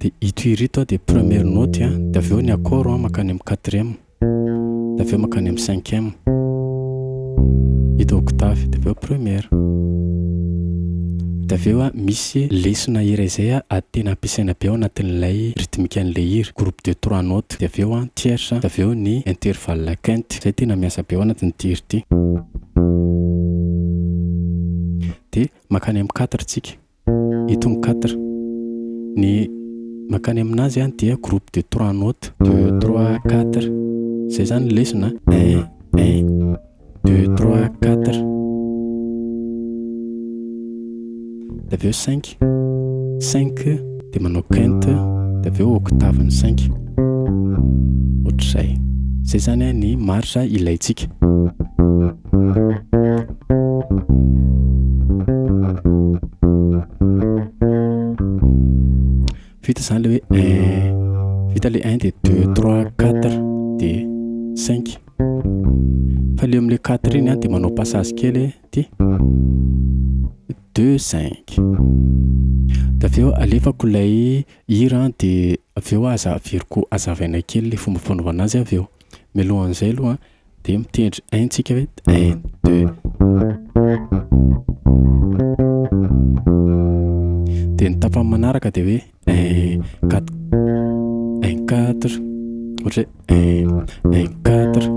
De ito hira ito dia première note a, de avy eo ny accord mankany amin'ny quatrième, de avy eo mankany amin'ny cinquième, ito octave, de avy eo première. De avy eo misy lesona iray izay tena ampiasaina be ao anatin'ilay rythmique-n'ilay hira, groupe de trois notes, de avy eo ny tierce, de avy eo ny intervalle quinte, izay tena miasa be ao anatin'ity hira ity. De mankany amin'ny quatre tsika. Eto ny quatre. Ny mankany aminazy an dia groupe de trois notes. Deux, trois, quatre. Zay zany ny lesona an. Un, un, deux, trois, quatre. Dia avy eo cinq, cinq dia manao quinte dia avy eo octave ny cinq. Ohatr'izay. Zay zany an ny marge ilaintsika. Vita izany ilay hoe un. Vita ilay un dia deux, trois, quatre dia cinq. Fa ilay eo amin'ilay quatre iny dia manao passage kely dia deux, cinq. Dia avy eo alefako ilay hira dia avy eo aza averiko hazavaina kely ilay fomba fanaovana azy avy eo. Mialohan'izay aloha Dia mitendry un tsika ve? Un, deux. Dia ny tapany manaraka dia hoe un, quatre, un, quatre. Ohatra hoe un, un, quatre.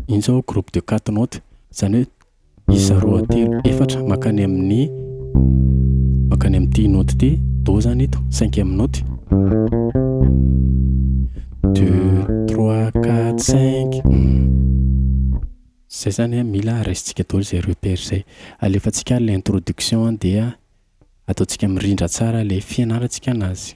Iny izao groupe de quatre notes, izany hoe. Isa roa, telo, efatra mankany amin'ny mankany amin'ity note ity. Do zany ito, cinquième note. Deux, trois, quatre, cinq. Zay zany an, mila raisintsika daholo izay repère izay. Alefantsika ary ilay introduction dia ataontsika mirindra tsara ilay fianarantsika anazy.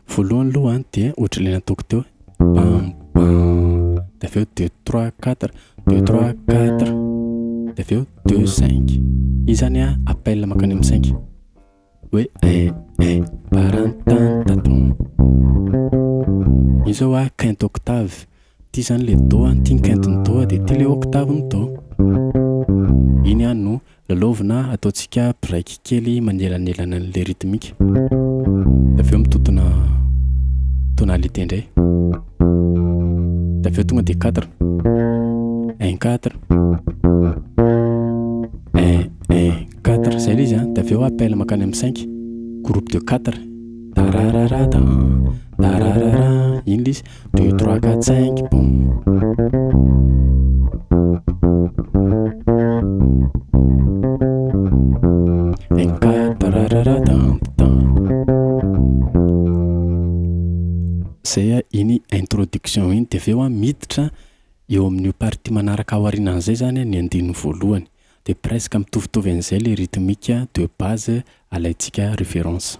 Voalohany aloha an dia ohatran'ilay nataoko teo bam bam dia avy eo deux trois quatre deux trois quatre dia avy eo deux cinq iny zany a appel mankany amin'ny cinq hoe eh eh barantantaton iny zao a quinte octave ty zany le do an ty ny quinte ny do dia ty le octave ny do iny a no Lalaovina, Ataontsika break kely manelanelana an'ilay rythmique. Dia avy eo mitotona tonalité indray. Dia avy eo tonga dia quatre. Un, quatre. Un, un, quatre. Izay ilay izy an. Dia avy eo appel mankany amin'ny cinq. Groupe de quatre. Tarararata. Tararara. Iny ilay izy. Deux, trois, quatre, cinq, Zay a, iny introduction iny dia avy eo a miditra eo amin'io partie manaraka aorianan'izay zany a ny andininy voalohany. Dia presque mitovitovy an'izay le rythmique de base alaintsika référence.